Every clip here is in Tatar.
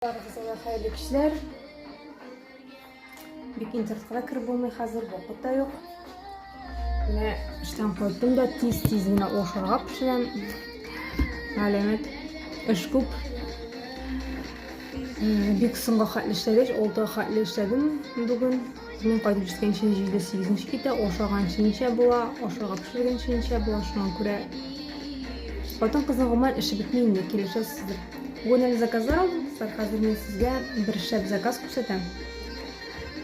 Барыгызга да хәерле кичләр. Бик интернетка кереп булмый хәзер, вакыт та юк. Менә эштән кайттым да тиз-тиз генә ашарга пешерәм. Галәмәт эш күп. Бик соңга хәтле эшләгәч, алты хәтле эшләдем бүген. Мин кайтып җиткәнче 7-8 китә, ашаганчы ничә була, ашарга пешергәнче ничә була, шуңа күрә хатын-кызның гомумән эше бетми инде, килешәсездер. Гүнел заказлар алдым кызлар, хәзер мин сезгә бер шәп заказ күрсәтәм.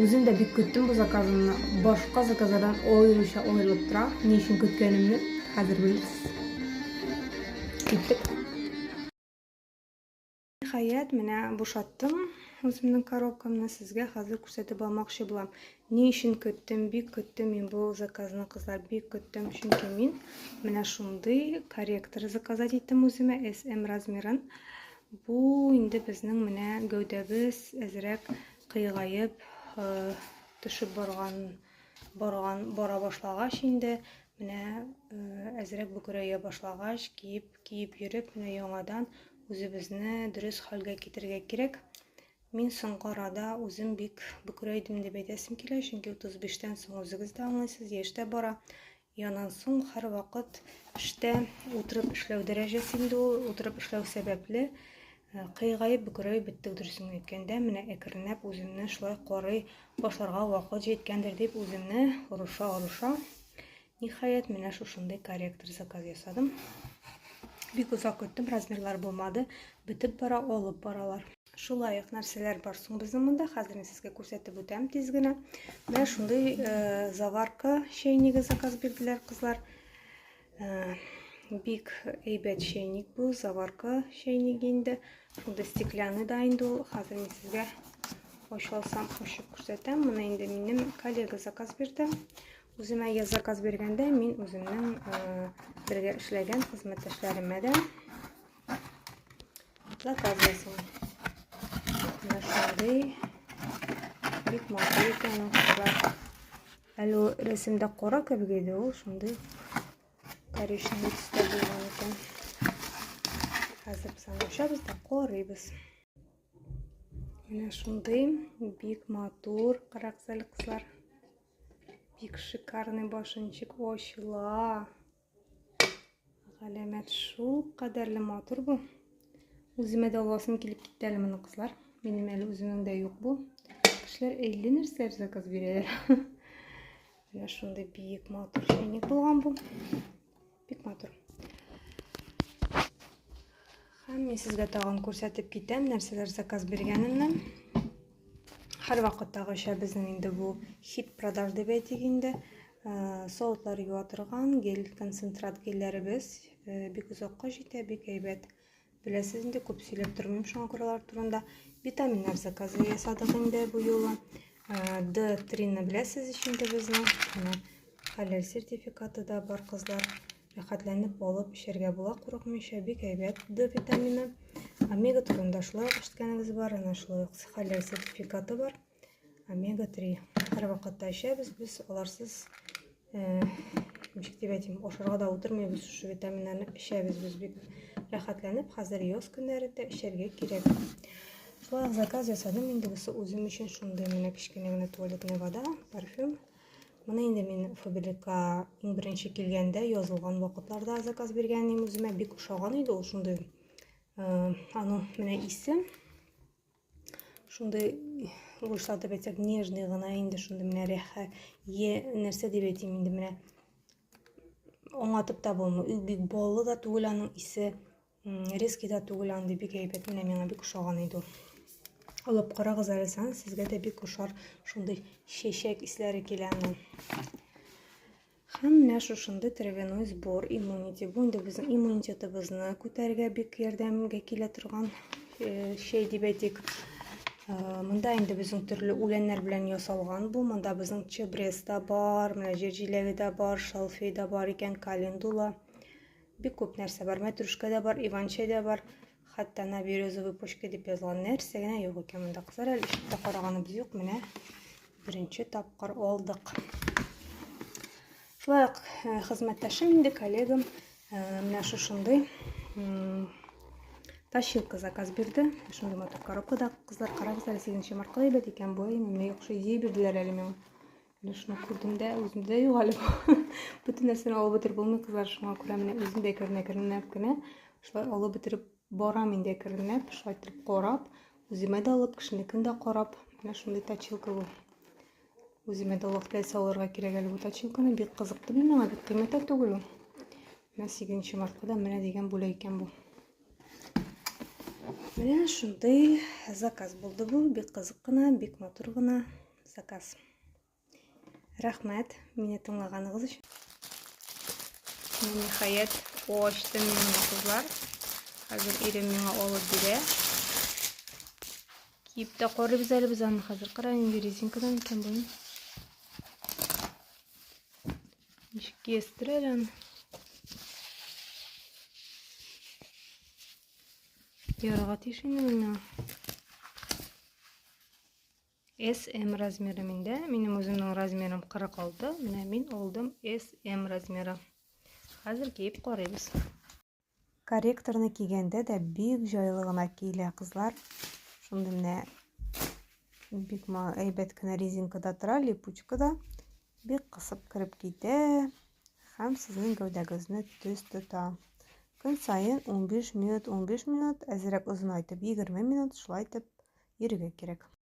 Үзем дә бик көттем бу заказымны, башка заказлардан аеруча аерылып тора, ни өчен көткәнемне хәзер белерсез. Киттек. Ниһаять, менә бушаттым үземнең коробкамны, сезгә хәзер күрсәтеп алмакчы булам. Ни өчен көттем, бик көттем мин бу заказны, кызлар, бик көттем, чөнки мин менә шундый корректор заказать иттем үземә, SM размерын. Бу инде безнең менә гәүдәбез әзрәк кыйгаеп э, төшеп барган, барган, бара башлагач инде, менә э, әзрәк бөкрәя башлагач, киеп, киеп йөреп, менә яңадан үзебезне дөрес хәлгә китерергә кирәк. Мин соңгы арада үзем бик бөкрәйдем дип әйтәсем килә, чөнки 35 тән соң үзегез дә аңлыйсыз, яшь тә бара. И аннан соң һәрвакыт эштә утырып эшләү дәрәҗәсе инде ул, утырып эшләү сәбәпле э, кыйгаеп бөкрәеп беттек дөресен әйткәндә, менә әкренләп үземне шулай карый башларга вакыт җиткәндер дип үземне орыша-орыша Ниһаять, менә шушындый корректор заказ ясадым. Бик озак көттем, размерлар булмады. Бетеп бара, алып баралар. Шулай ук нәрсәләр бар соң безнең монда. Хәзер мин сезгә күрсәтеп үтәм тиз генә. Менә шундый э, заварка чәйниге заказ бирделәр кызлар. Э, бик әйбәт чәйник бу, заварка чәйник инде. Шундый стеклянный да инде ул. Хәзер мин сезгә ачып алсам, ачып күрсәтәм. Моны инде минем коллега заказ бирде. Үземә я заказ биргәндә мин үземнең бергә эшләгән хезмәттәшләремә дә заказ ясыйм. Менә шундый бик матур икән ул кызлар. Әле рәсемдә кара кебек иде ул, шундый коричневый төстә булган икән. Хәзер без аны ашабыз да корыйбыз. Менә шундый бик матур караксәл кызлар. Бик шикарный башынчык ачыла. Галәмәт шул кадәрле матур бу. Үземә дә аласым килеп китте әле моны кызлар. Минем әле үземнең дә юк бу. Кешеләр әллә нәрсәләр заказ бирәләр. Менә шундый биек матур чәйник булган бу. Бик матур. Һәм мин сезгә тагын күрсәтеп китәм, нәрсәләр заказ биргәнемне. Һәр вакыттагыча безнең инде бу хит продаж дип әйтик инде. Э, Сауытлар юа торган гель концентрат гельләребез э, бик озакка җитә, бик әйбәт. Беләсез инде, күп сөйләп тормыйм шуңа күрә алар турында. Витаминнар заказы ясадык инде бу юлы. Д-трины беләсез ич инде безне. Менә хәләл сертификаты да бар кызлар. Рәхәтләнеп алып эчәргә була курыкмыйча, бик әйбәт Д витамины. Омега турында шулай ук ишеткәнегез бар, ана шулай ук хәләл сертификаты бар. омега-3. Һәрвакытта эчәбез без аларсыз ничек дип әйтим, ашарга да утырмыйбыз, шушы витаминнарны эчәбез без бик рәхәтләнеп, хәзер яз көннәрендә эчәргә кирәк. Шулай заказ ясадым инде бусы үзем өчен шундый менә кечкенә генә туалетная вода, парфюм. Моны инде мин Фабрика иң беренче килгәндә язылган вакытларда заказ биргән идем үземә, бик ошаган иде ул шундый. Э, аның менә исе шундый русча дип әйтсәк нежный гына инде шундый менә рәхә е нәрсә дип әйтим инде менә аңлатып та булмый ул бик баллы да түгел аның исе резкий да түгел андый бик әйбәт менә миңа бик ошаган иде ул алып карагыз әле сезгә дә бик ошар шундый чәчәк исләре килә аның Һәм менә шушындый травяной сбор иммунити. Бу инде безнең иммунитетыбызны күтәрергә бик ярдәмгә килә торган э, чәй дип әйтик. Э, монда инде безнең төрле үләннәр белән ясалган бу. Монда безнең чебрес та бар, менә җирҗиләге дә бар, шалфей дә бар икән, календула. Бик күп нәрсә бар. Мәтрүшкә дә бар, иван-чәй дә бар. Хәтта на березовый почке дип язылган нәрсә генә юк икән монда. Кызлар әле ишектә караганыбыз юк. Менә беренче тапкыр алдык. Шулай ук э, хезмәттәшем инде, коллегам э, менә шушындый Тащилка заказ бирде. Шундый матур коробкада кызлар карагыз әле 8 маркалы әйбәт икән. Бу әйбәт икән. Бу әйбәт икән. Бу әйбәт икән. Менә шуны күрдем дә, үземдә дә юк әле бу. Бөтен нәрсәне алып бетереп булмый, кызлар, шуңа күрә менә үзем дә керенә керенләп кенә шулай алып бетереп барам инде керенләп, шулай итеп карап, үземә дә алып, кешенекен дә карап, менә шундый точилка бу. Үземә дә вакыт теләсә алырга кирәк әле бу точилканы, бик кызыкты мин миңа, бик кыйммәт тә түгел ул. Менә 8 мартка да менә дигән бүләк икән бу. Менә шундый заказ булды бу, бик кызык кына, бик матур гына. Заказ. Рәхмәт, мине тыңлаганыгыз өчен. Нихаять, ачтым мин кызлар. Хәзер ирем миңа алып бирә. Киеп тә карыйбыз әле без аны хәзер. Кара инде резинкадан икән буен. Ничек киястер әле аны. Ярага тиеш инде миңа. SM размеры миндә. Минем үземнең размерым 46. Менә мин алдым SM размеры. Хәзер киеп карыйбыз. Корректорны кигәндә дә бик җайлы гына киелә, кызлар. Шундый менә бик әйбәт кенә резинкада тора, липучкада. Бик кысып кереп китә һәм сезнең гәүдәгезне төз тота. Көн саен 15 минут, 15 минут, әзрәк озынайтып 20 минут шулай итеп йөрергә кирәк.